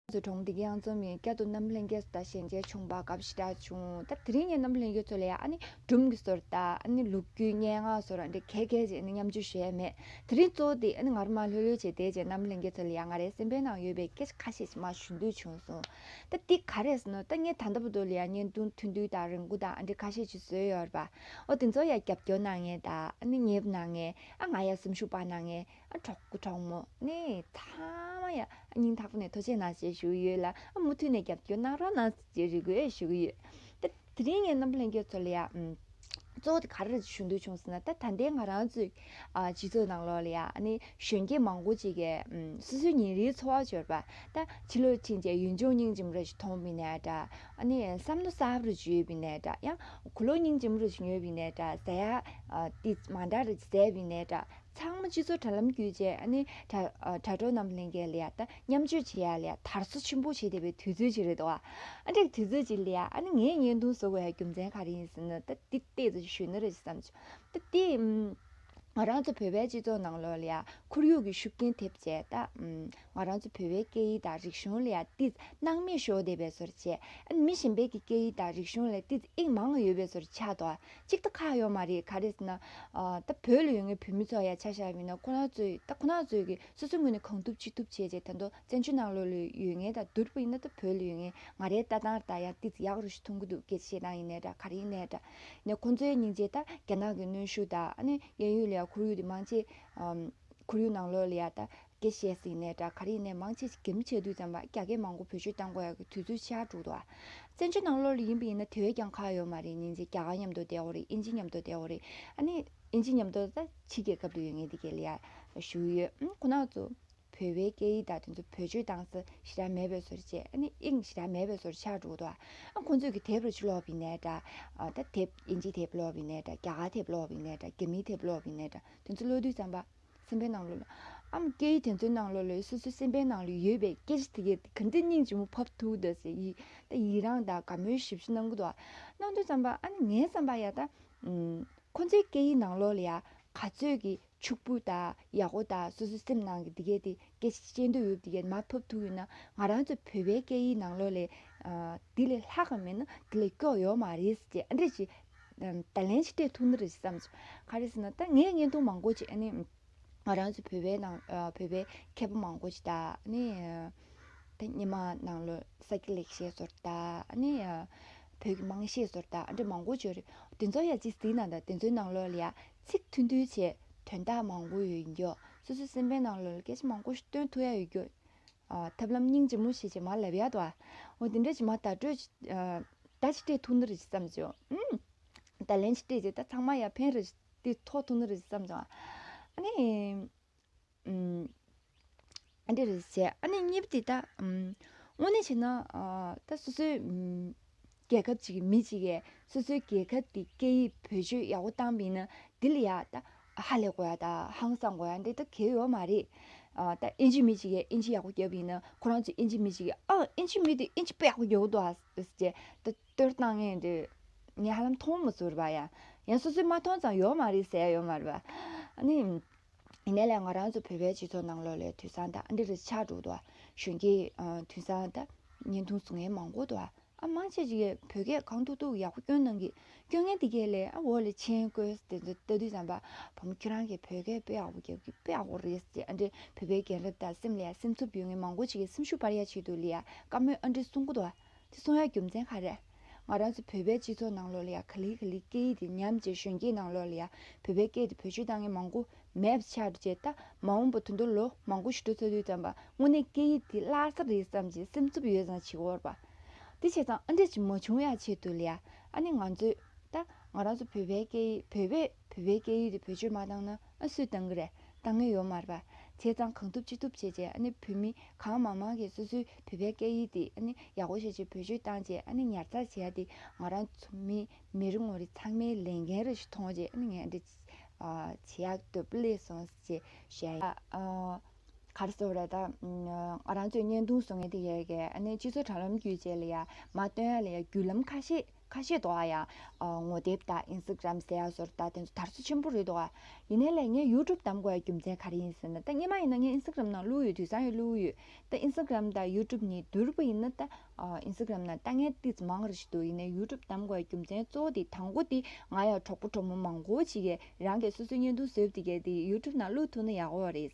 ཚོས་གྲོང་སྡེ་གཡང་འཛོམས་ཡན་བསྐྱར་དུ་རྣམ་ལྷན་རྒྱལ་སོ་ལྟ་ཞལ་མཇལ་བྱུང་བ་སྐབས་ཞི་དྲག་བྱུང། སྟབས་དེ་རིང་ངས་རྣམ་ལྷན་རྒྱལ་ཚོ་ལ་ཡང་སྒྲུང་གི་སོར་རྟགས། ལུག་རྒྱུད་སྙན་ངག་སོགས་རང་འགྲེལ་གལ་གལ་ཅན་མཉམ་སྤྱོད་བྱས་མེད། དེ་རིང་གཙོ་བོ་དེ་ང་རུ་མ་ལྷོད་ལྷོད་བྱས་དེའི་རྗེས་རྣམ་ལྷན་རྒྱལ་ཚོ་ལ་ཡང་ང་རའི་སེམས་པའི་ནང་ཡོད་པའི་སྐད་ཆ་ཁ་ཤས་ཞིག་མ་ཞུ་འདོད་བྱུང་སོང། ད་འདི་ག་རེད་ཟེར་ནོ་ད་ངས་ད་ལྟ་བུ་དོ་ལ་ཡང་བརྙན་ཐུང་ཐུང་དུས་དང་རིང་བོ་དང་ཨ་འབྲི་ཁ་ཤས་ཞིག་བཟོས་ཡོད་རེད་པ། འོ་དེ་ཚོ་ཡང་རྒྱབ་སྐྱོར་གནང་ངེས་དང། ཉེ་བ་གནང་ངེས། ཨ་ང་ཡང་སེམས་ཤུགས་སྤར་གནང་ངེས། གྲོགས་པོ་གྲོགས་མོ་ནི་ཐ་མ་ཡང་སྙིང་ཐག་པ་ནས་ཐུགས་ཆེ་གནང་བཞིན་བཞུགས་ཡོད་ལ་མུ་མཐུད་ནས་རྒྱབ་སྐྱོར་གནང་རོགས་གནང་བཞིན་རེ་སྐུལ་ཞུ་གི་ཡོད། ད་དེ་རིང་ངས་རྣམ་པ་ལྷན་རྒྱས་ཚོ་ལ་ཡང། གཙོ་བོ་དེ་ག་རེ་ཞུ་འདོད་བྱུང་ཟེར་ན་ད་ད་ལྟའི་ང་རང་ཚོའི་སྤྱི་ཚོགས་ནང་ལོགས་ལ་ཡང་གཞོན་སྐྱེས་མང་པོ་ཅིག་གིས་སོ་སོའི་ཉིན་རེའི་འཚོ་བ་སྦྱོར་བ། ད་ཕྱི་ལོ་ཕྱིན་རྗེས་ཡུན་ཅུང་སྙིང་རྗེ་མོ་རེ་ཞིག་ཐོངས་པའི་ནས་འདྲ། བསམ་མནོ་ཟབ་རུ་བརྗོད་པའི་ནས་འདྲ་ཡང་གོ་ལོ་སྙིང་རྗེ་མོ་རེ་ཞིག་ཉོས་པའི་ནས་འདྲ་ཟེར་ཡ། དེ་མ་འདྲ་རེ་ཟེར་བའི་ནས་འདྲ་ཚང་མ་སྤྱི་ཚོགས་དྲ་ལམ་བརྒྱུད་རྗེས་ཨ་ནི་དྲ་གྲོགས་རྣམས་ལྷན་སྐྱེས་ལི་ཡཱ་ད་མཉམ་སྤྱོད་བྱེད་ཡ་ལི་ཡཱ་དར་བཟོ་ཆེན་པོ་བྱེད་བསྡད་པའི་དུས་ཚོད་ཅིག་རེད་འདུག་ཨ་འདྲ་གི་དུས་ཚོད་ཅིག་ལི་ཡཱ་ཨ་ནི་ངའི་བརྙན་ཐུང་བཟོ་བའི་རྒྱུ་མཚན་ག་རེ་ཡིན་ཟེར་ན་ད་འདི་ལྟས་ཚོ་གཞོན་ནུ་རེད་ཅེས་བསམ་བྱུང་ད་དེས་ང་རང་ཚོ་བོད་པའི་སྤྱི་ཚོགས་ནང་ལོགས་ལི་ཡཱ་ཁོར་ཡུག་གི་ཤུགས་རྐྱེན་ཐེབས་རྗེས་ད། ང་རང་ཚོ་བོད་པའི་སྐད་ཡིག་དང་རིག་གཞུང་ལ་ཡང་ཏིས་སྣང་མེད་ཞོག་བསྡད་པའི་ཚོར་བྱས། ཨ་ནི་མི་གཞན་པའི་གི་སྐད་ཡིག་དང་རིག་གཞུང་ལ་ཏིས་དབྱིངས་མང་ང་ཡོད་པའི་ཚོར་ཆགས་འདུག་གཅིག་ད་ཁག་ཡོག་མ་རེད་ག་རེ་ཟེར་ན། ད་བོད་ལ་ཡོད་ངའི་བོད་མི་ཚོ་ཡང་ཆ་ཤ་མིན་ན་ཁོ་ནག་ཚོས་ད་ཁོ་ནག་ཚོས་གི་སོ་སོའི་ངོས་ནས་གང་ཐུབ་ཅི་ཐུབ་བྱས་བྱས་ད་དོ་བཙན་བྱོལ་ནང་ལོག་ལོས་ཡོད་ངའི་ད་དུར་བུ་ཡིན་ན་ད་བོད་ལ་ཡོད་ངའི་ང་རའི་ལྟ་སྟངས་ད་ཡང་ཏིས་ཡག་རུ་ཞིག་མཐོང་གི་འདུག་གལ་ཏེ་ཤེས་སྟངས་ཡིན་ནའི་དྲ་ག་རེ་ཡིན་ནའི་དྲ། ནས་ཁོང་ཚོའི་སྙིང་རྗེ་ད་རྒྱ་ནག་གི་གནོན་ཤུགས་དང་ཨ་ནི་གཡས་ཡུལ་ལ་ཡང་ཁོར་ཡུག་དེ་མང་ཆེ། ཁོར་ཡུག་ནང་ལོག་ལ་ཡང་ད་དགེ་བཤེས་སིང་ནས་སྦྲ་གར་ཡིན་ནས་མང་ཆེ་ཆེ་གེ་མོ་བྱས་དུས་ཙམ་ལ་རྒྱ་སྐད་མང་པོ་བོད་ཆོས་གཏང་དགོས་ཡག་གི་དུས་ཚོད་ཆགས་འགྲོ། བཙན་བྱོལ་ནང་ལོ་ལེགས་ཡིན་པ་ཡིན་ན་དེ་བས་ཀྱང་ཁག་ཡོད་མ་རེད་ཉིན་ཅིག་རྒྱ་གར་ཉམས་དོ་བསྡད་འོ་རེད་ཨིན་ཇི་ཉམས་དོ་བསྡད་འོ་རེད་ཨ་ནི། ཨིན་ཇི་ཉམས་དོ་ད་ཕྱི་རྒྱལ་ཁབ་ཏུ་ཡོད་ངེས་འདི་གའི་ལས་ཡག་ཞུ་གི་ཡོད་ཁོ་ནག་ཚོ། བོད་པའི་སྐད་ཡིག་དག་དེ་ཚོ་བོད་ཆོས་གཏང་ས་ཞེ་དྲག་མེད་པའི་བཟོར་བྱས་ཨ་ནི་ཨིང་ཞེ་དྲག་མེད་པའི་བཟོར་ཆགས་འགྲོ་ཨ་ཁོ་ཚོས་གི་དེབ་ར་ཆུ་ལོག་བི་ནས་འདྲ་ད་དེབ་ཨིན་ཇི་དེབ་ལོག་བི་ནས་འདྲ་རྒྱ་གར་དེབ་ལོག་བི་ནས་འདྲ་རྒྱ་མིའི་དེབ་ལོག་བི་ནས་འདྲ་དེ་ཚོ་ཀློད་དུས་ཙམ་པ། སེམས་པའི་ནང་ལོགས་ལ། ཨམ་སྐད་ཡིག་དེ་ཚོའི་ནང་ལོགས་ལ་སོ་སོའི་སེམས་པའི་ནང་ལོགས་ཡོད་པའི་སྐད་ཆ་དེ་ག་ག་འདི་སྙིང་ཅིག་མོ་ཕབ་ཐུག་ད་ཟེར་ཡིག་ད་ཡིག་རང་ད་ག་མོའི་ཞིབ་བཤེར་གནང་གི་འདུག་ཨ། གནང་འདུག་བསམ་པ་ཨ་ནི་ངའི་བསམ་པ་ཡག་ད། ཁོ་ཚོའི་སྐད་ཡིག་ནང་ལོགས་ལ་ཡང་ག་ཚོད་ཀྱི་ཕྱུག་པོ་ད་ཡག་པོ་ད་སོ་སོའི་སེམས་ནང་གི་འདི་གས་དེ་སྐད་ཆ་བཤད་འདོད་ཡོད་དེ་གས་མ་ཕབ་ཐུག་ཡོད་ན་ང་རང་ཚོ་བོད་པའི་སྐད་ཡིག་ནང་ལོགས་ལས། དེ་ལས་ལྷག་ག་མེད་ན་དེ་ལས་སྐྱོ་ཡོད་མ་རེད་ཟེར་ཅེས་ཨ་འདྲེ་ཅིག། ད་ལན་ཅི་སྤྲད་ཐུབ་ན་རེད་བསམ། ག་རེ་ཟེར་ན་ད་ངས་བརྙན་ཐུང་མང་པོ་ཅིག་ཨ་ནི། ང་རང་ཚོ་བོད་པའི་ནང་བོད་པའི་མཁས་པ་མང་པོ་ཅིག་དང་ཨ་ནི། ད་སྙེ་མ་ནང་ལོ་ས་སྐྱ་ལེགས་བཤད་ཟོར་དང་ཨ་ནི། བོད་ཀྱི་དམངས་བཤད་ཟོར་དང་ཨ་འདྲེ་མང་པོ་བྱོས་རེད། དེ་ཚོ་ཡང་ཅིག་གཟིགས་ན་ད་དེ་ཚོའི་ནང་ལོ་ལ་ཡང་ཚིག་མཐུན་མཐུན་བྱས་དོན་དག་མང་པོ་ཡོད་རྒྱུ། སོ་སོའི་སེམས་པའི་ནང་ལོ་ལ་སྐད་ཆ་མང་པོ་ཞིག་སྟོན་ཐུབ་ཡ་ཡོད་རྒྱུ། ཐབས་ལམ་སྙིང་རྗེ་མོ་ཞེས་བྱ་མ་ལ་བཡ་ཏོ། འོ་དེ་འདྲ་བྱེད་མ་ད་སྤྲོད། ད་ཅི་སྤྲད་ཐུགས་ནུ་རེ་ཅི་བསམ་བྱུང། ད་ལན་ཅི་སྤྲད་ཅེས་ད་ཚང་མ་ཡར་འཕེན་རེ། དེ་ཐོག་ཐུགས་ནུ་རེ་ཅི་བསམ་བྱུང། ཨ་ནི། ཨ་འདྲེ་རེ་ཅི་བྱས་ཨ་ནི་གཉིས་པ་དེ་ད། དངོས་གནས་བྱས་ན། ད་སོ་སོའི། རྒྱལ་ཁབ་ཅིག་གི་མི་གཅིག་གས་སོ་སོའི་རྒྱལ་ཁབ་དེའི་སྐད་ཡིག་བེད་སྤྱོད་ཡག་པོ་བཏང་མིན་ནི་འདི་ལ་ཡག་ད་ཧ་ལས་གོ་ཡ་ད་ཧང་སང་གོ་ཡ་འདི་ད་གལ་ཡོད་མ་རེད། ད་ཨིན་ཇི་མི་གཅིག་གས་ཨིན་ཇི་ཡག་པོ་རྒྱབ་ཡིན་ན་ཁོ་རང་ཚོ་ཨིན་ཇི་མི་གཅིག་གིས་ཨ་ཨིན་ཇི་མི་དེ་ཨིན་ཇི་པོ་ཡག་པོ་རྒྱབ་འདུག་ཨ་ཅེ་ད་ལྟོས་བཏང་ངས་འདི་ངས་ཧ་ལམ་མཐོང་མ་ཟུར་བ་ཡ། ཡང་སོ་སོས་མ་མཐོང་ཙང་ཡོད་མ་རེད་ཟེར་ཡ་ཡོད་མ་རེད་བ། ཨ་ནི། ཡིན་ནའི་ལས་ང་རང་ཚོ་བོད་པའི་སྤྱི་ཚོགས་ནང་ལོ་ལོའི་དུས་བཟང་དང་འདིར་ཆགས་འགྲོ་འདུག་གཞོན་སྐྱེས་དུས་བཟང་དང། བརྙན་ཐུང་གཟུགས་བརྙན་མང་པོ་འདུག་ཨ་མ་ཁྱེད་ཀྱིས་བོད་སྐད་གང་ཐུག་ཐུག་ཡག་པོ་སྐྱོན་གནང་གི། སྐྱོན་ངན་འདི་གའི་ལས་འོག་ལས་མཆན་བཀོད་ས་དེ་ཚོ་ལྟ་དུས་བསམ་པ་བུ་མོ་ཁྱེད་རང་གིས་བོད་སྐད་དཔེ་ཡག་པོ་རྒྱབ་ཀྱི་དཔེ་ཡག་པོ་རེད་ཟེར་ཨ་འདྲེ་བོད་པའི་རྒན་རབས་དང་སེམས་ལས་སེམས་འཚུབ་ཡོད་ངེས་མང་པོ་ཞིག་གིས་སེམས་ཤུགས་སྤར་ཡ་བྱེད་དུ་ལས་ཀ་མོད་ཨ་འདྲེ་གསུང་གི་འདུག། དེ་གསུང་ཡ་རྒྱུ་མཚན་ག་རེད། ང་རང་ཚོ་བོད་པའི་སྤྱི་ཚོགས་ནང་ལོགས་ལ་ཡ་ག་ལི་ག་ལི་སྐད་ཡིག་དེ་ཉམས་བྱེད་གཞོན་སྐྱེས་ནང་ལོགས་ལ་ཡ་བོད་པའི་སྐད་དེ་བོད་སྤྱི་དང་ངན་མང་པོ་མེད་པ་ཆགས་རྗེས་ད་མ་འོངས་པ་དུད་འགྲོ་ལོ་མང་པོ་ཞི་ཁྲོ་ཚ་དུས་ཙམ་པ་དངོས་གནས་སྐད་ཡིག་དེ་བརླག་ས་རེད་བསམ་གྱི་སེམས་འཚུབ་ཡོད་ཙང་བྱིས་བོར་བ་དེ་བྱས་ཙང་ཨ་འགྲིག་གི་མ་བྱུང་ཡ་ཆེས་དུ་ལ་ཡ་ཨ་ནི་ང་ཚོས་ད་ང་རང་ཚོ་བོད་པའི་སྐད་ཡིག་བོད་པས་བོད་པའི་སྐད་ཡིག་དེ་བེད་སྤྱོད་མ་བཏང་ན། ཨ་སུས་བཏང་གི་རེད་བཏང་ངེས་ཡོད་མར་བ། བྱས་ཙང་གང་ཐུབ་ཅི་ཐུབ་བྱས་རྗེས་ཨ་ནི་བོད་མི་གང་མང་མང་གིས་སོ་སོའི་བོད་པའི་སྐད་ཡིག་དེ་ཨ་ནི་ཡག་པོ་ཤེས་ཆེད་བོད་ཆོས་བཏང་རྗེས་ཨ་ནི་ཉར་ཚགས་བྱས་ཡ་དེ་ང་རང་ཚོ་མི་མི་རེ་ངོ་རེ་ཚང་མའི་ལས་འགན་རེ་ཞིག་མཐོང་རྗེས་ཨ་ནི་ངས་འདི་བྱེད་ཡག་འདོད་པོ་ལེ་སོང་ཞེས་བཤད་ཡ། ག་རེ་ཟེར་བ་རེད་ད། ང་རང་ཚོས་བརྙན་ཐུང་བཟོ་མཁན་དེ་ཡས་ཀྱིས་ཨ་ནི་སྤྱི་ཚོགས་དྲ་ལམ་བརྒྱུད་བྱས་ལ་ཡ་མ་བཏོན་ཡ་ལ་ཡ་བརྒྱུད་ལམ་ཁ་ཤས་ཁ་ཤས་དོ་ཨ་ཡ། ངོ་དེབ་དང Instagram སེ་ཡ་སོར་ད་དེ་ཚོ་དར་ཚོ་ཆེན་པོ་རེད་དོ་ཨ། ཡིན་ནའི་ལེ་ངས YouTube གདམ་དགོས་ཡ་རྒྱུ་མཚན་ག་རེ་ཡིན་ཟེར་ན་ད་སྙེ་མ་ཡིན་ན་ངས Instagram ནང་བླུགས་ཡོད་དུས་སང་ཡོད་བླུགས་ཡོད། ད Instagram དང YouTube གཉིས་བསྡུར་བ་ཡིན་ན་ད Instagram ནང་ལྟ་ངན་ཏིས་མང་རེ་ཞིག་འདུག་ཡིན་ནའི YouTube གདམ་དགོས་ཡ་རྒྱུ་མཚན་གཙོ་བོ་དེ་དང་པོ་དེ་ང་ཡ་གྲོགས་པོ་གྲོགས་མོ་མང་བོ་ཅིག་གིས་རང་གིས་སོ་སོའི་བརྙན་ཐུང་བཟོས་བདེ་གལ་ཏེ YouTube ནང་བླུགས་ཐུབ་ན་ཡག་བོ་རེད།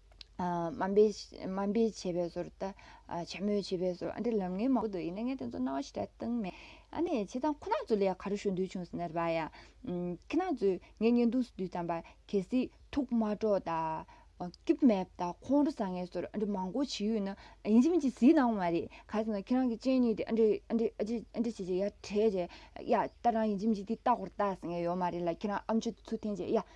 དམའ་འབེབས་བྱས་པའི་ཟོར་དང། བྱ་མོས་བྱས་པའི་ཟོར་འདི་ལམ་ངན་མང་པོ་འདུག་ཡིན་ན་ངས་དེ་ཚོ་རྣ་བ་ཞིག་གྲགས་བཏང་མེད། ཨ་ནེ་བྱས་ཙང་ཁོ་ན་ཚོ་ལ་ཡང་ག་རེ་ཞུ་འདོད་བྱུང་ཟེར་ན་རེ་བ་ཡ། ཁྱེད་རང་ཚོས་ངའི་བརྙན་ཐུང་སུ་བསྡུས་དམ་པ་གལ་སྲིད་ཐུགས་མ་དཀྲོགས་དང། སྐྱུག་མེད་དང་ཁོང་ཁྲོ་ཟ་ངེས་ཟོར་ཨ་འདྲི་མང་པོ་བྱས་ཡོད་ན། ཡིན་གཅིག་མིན་གཅིག་གཟིགས་གནང་བ་མ་རེད། ག་རེ་ཟེར་ན་ཁྱེད་རང་གི་སྤྱན་གཉིས་དེ་ཨ་འདྲི་ཨ་འདྲི་ཨ་འདྲི་ཨ་འདྲི་བྱས་རྗེས་ཡ་བྲེད་བྲེད། ཡ་ལྟ་རང་ཡིན་གཅིག་མིན་གཅིག་དེ་ལྟ་གོ་ལྟ་ཟེར་ངེས་ཡོད་མ་རེད་ལ་ཁྱེད་རང་ཨ་མཆོད་ཚུལ་འཐེན་རྗེས་ཡ།